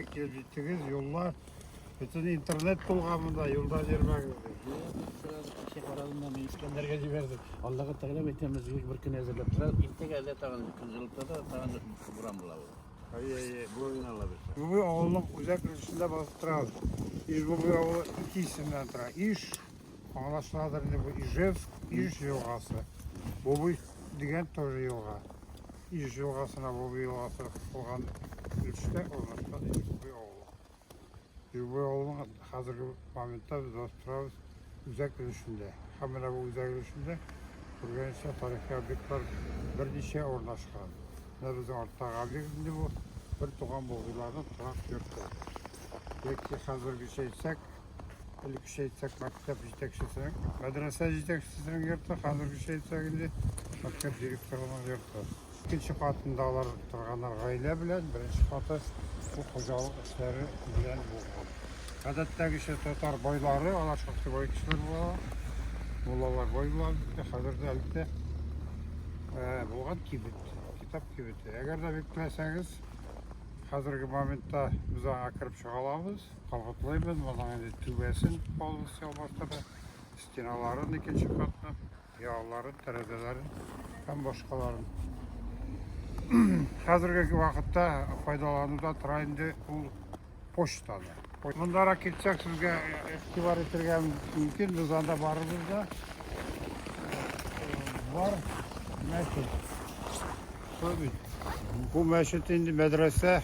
Килеп җиттегез, юлла. Бөтен интернет тулган монда, юлда йөрмәгез ди. Кеше карадым да, мин Искәндәргә җибәрдем. Аллага тәгәлә әйтәм, үзегез бер көн әзерләп тора. Иртәгә әллә тагын көн җылытса да, тагын буран була ул. Әйе, әйе, буран ала без. Бүгү авылның үзәк өлешендә басып торабыз. Ижбүгү авылы ике исемнән тора. Иж, аңлашыладыр инде бу Ижевск, Иж елгасы. Бубуй дигән тоже елга. Иж елгасына Бубы елгасы кушылган өлештә урнашкан Юбы авылы. Юбы авылының хәзерге моментта без Островс үзәк өлешендә. Һәм менә бу үзәк өлешендә күргәнчә тарихи объектлар берничә урнашкан. Менә безнең арттагы объект инде бу бер туган Бубыларның торак йорты. Яки хәзергечә әйтсәк, Элеккечә әйтсәк, мәктәп җитәкчесе, мәдрәсә җитәкчесенең йорты, хәзергечә әйтсәк инде, мәктәп директорының йорты. Икенче катында алар торганнар гаилә белән, беренче каты бу хуҗалык эшләре белән булган. Гадәттәгечә татар байлары, алар шактый бай кешеләр була, муллалар бай була, хәзер дә әлбәттә э, булган кибет, китап кибете. Әгәр дә бик теләсәгез, хәзерге моментта без аңа кереп чыга алабыз. Кабатлыйбыз моның инде түбәсен полностью ялмаштырды, стеналарын икенче катны, ялларын, тәрәзәләрен һәм башкаларын. Хәзерге вакытта файдалануда тора инде ул почтаны. Мондарак китсәк сезгә игътибар итәргә мөмкин, без анда барыбыз да. Э, бар, мәчет. Шулай бит. Бу мәчет инде мәдрәсә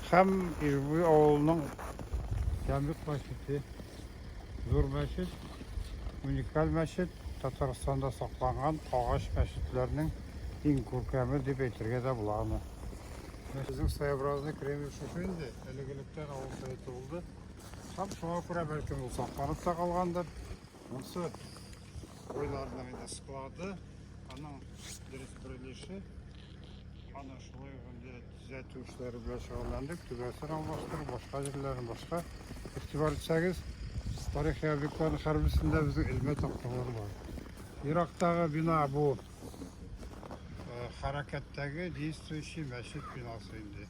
һәм Ижбуй авылының Ямбик мәчете. Зур мәчет, уникаль мәчет, Татарстанда сакланган агач мәчетләрнең иң күркәме дип әйтергә дә була аны. Безнең своеобразный Кремль шушы инде, элек-электән авыл советы булды. Һәм шуңа күрә бәлкем ул сакланып та калгандыр. Монсы Уйларның инде склады, аның дөрес бирелеше. Аны шулай гында төзәтү эшләре белән шөгыльләндек. Түбәсен алмаштыру, башка җирләрен башка. Игътибар итсәгез, тарихи объектларның һәрберсендә безнең элмә такталар бар. Ерактагы бина бу хәрәкәттәге действующий мәчет бинасы инде.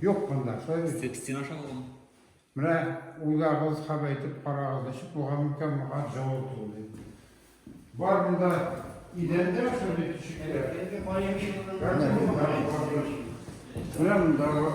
Юк монда, шулай бит. Стен, стена шаулы. Менә уйлагыз һәм әйтеп карагыз, ничек булган микән моңа җавап булды. Бар монда идәндә шундый тишекләр. Менә монда бар.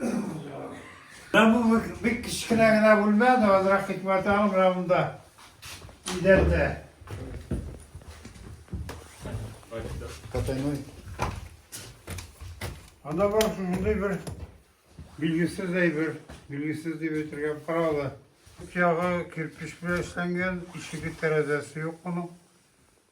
Менә бу бик, бик кечкенә генә бүлмә, азрак хикмәте алып, менә монда идәрдә. Потайной. Анда бар шушындый бер билгесез әйбер, билгесез дип әйтергә каралы. Ягы кирпич белән эшләнгән, ишеге тәрәзәсе юк моның.